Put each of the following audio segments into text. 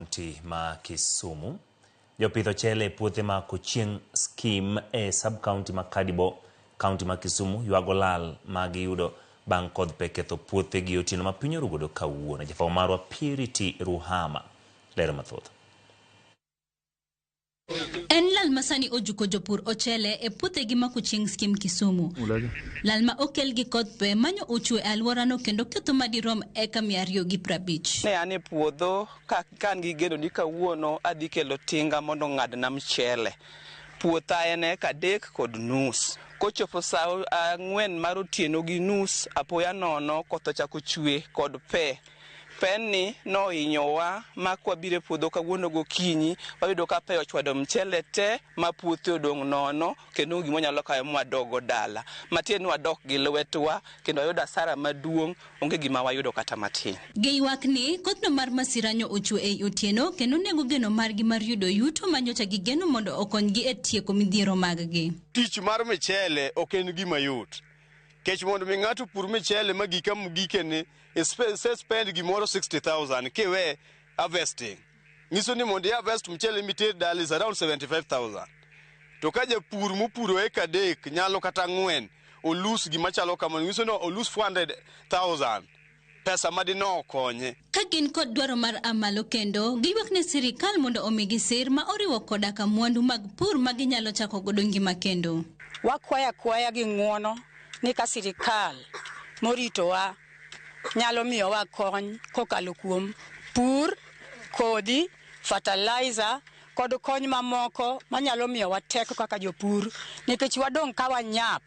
kaunti ma Kisumu. Jopith ochele e puothe ma Kochieng Skim e sub-kaunti ma Kadibo, kaunti ma Kisumu ywago lal ma giyudo bang' kodh pe ketho puothegi otieno ma piny orugodo kawuono. Jafwambo marwa Purity Ruhama lero mathoth. En lal ma sani ojuko jopur ochele e puothegi ma kuchieng' skim Kisumu. Lal ma okel gi koth pe manyo ochwe e alworano kendo ketho ma dirom eka mia ariyo gi prabich. Ne an e puodho ka kan gi geno ni kawuono adhi kelo tinga mondo ong'adna mchele. Puotha en eka adek kod nus. Kochopo sa ang'wen mar otieno gi nus, apoya nono koth ochako chwe kod pe. Peni nohinyowa ma kwabiro e puodho kawuono gokinyi, wayudo ka pe ochwado mchele te ma puothe odong' nono kendo onge gima wanyalo kawe ma wadoggo dala. Matiende ni wadok gi lwetwa kendo wayudo asara maduong', onge gima wayudo kata matin. Giywak ni, Kothno mar masira nyo ochwe ei otieno kendo nego geno margi mar yudo yuto ma nyocha gigeno mondo okonygi e tieko midhiero maggi. Tich mar michele ok en gima yot. kech mondo mi ng'ato pur michele ma gika gikene se spend gimoro 60000 kiwe harvesting nyiso ni mondo harvest mchele miter dala is around 75000 to ka japur mopuro eka adek nyalo kata ng'wen olus gima chalo kamano nyiso ni olus 400000 pesa ma dine okonye. Ka gin kod dwaro mar amalo kendo giywak ne sirikal mondo omigi sir ma oriwo koda ka mwandu mag pur ma ginyalo chako godo ngima kendo. Wakwayo akwaya gi ng'uono ni ka sirikal moritowa nyalo miyowa kony kokalo kuom pur, kodhi, fertilizer kod kony mamoko manyalo miyowa teko kaka jopur nikech wadong' ka wanyap.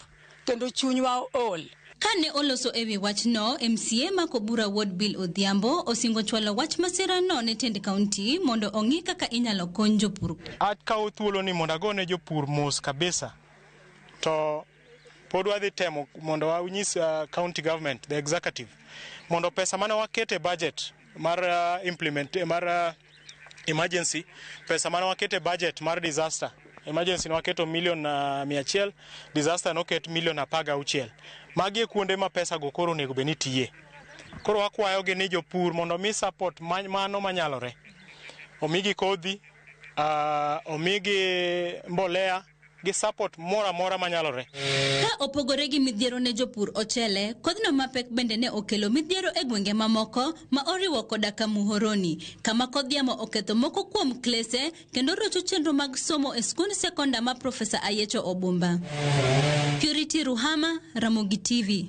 kendo chunywa ol. Kane oloso e wi wachno, MCA ma Kobura Ward Bill Odhiambo osingo chwalo wach masirano ne tend kaunti mondo ong'i kaka inyalo kony jopur. Akawo thuoloni mondo agone jopur mos kabisa to pod wadhi temo mondo wanyis uh, county government the executive mondo pesa mane waketo e budget mar uh, implement mar uh, emergency pesa mane wakete budget mar disaster emergency ne waketo milion uh, mia achiel disaster noket milion apar gauchiel magi e kuonde ma pesa go koro onego bed ni tiye koro wakwayogi ni jopur mondo omi support ma- mano manyalore omigi kodhi uh, omigi mbolea gi support moro amora manyalore. Ka opogore gi midhiero ne jopur ochele, kodhno mapek bende ne okelo midhiero e gwenge mamoko ma oriwo koda ka Muhoroni, kama kodh yamo oketho moko kuom klese kendo rocho chenro mag somo e skund sekonda ma Profesa Ayecho Obumba. Purity Ruhama, Ramogi TV.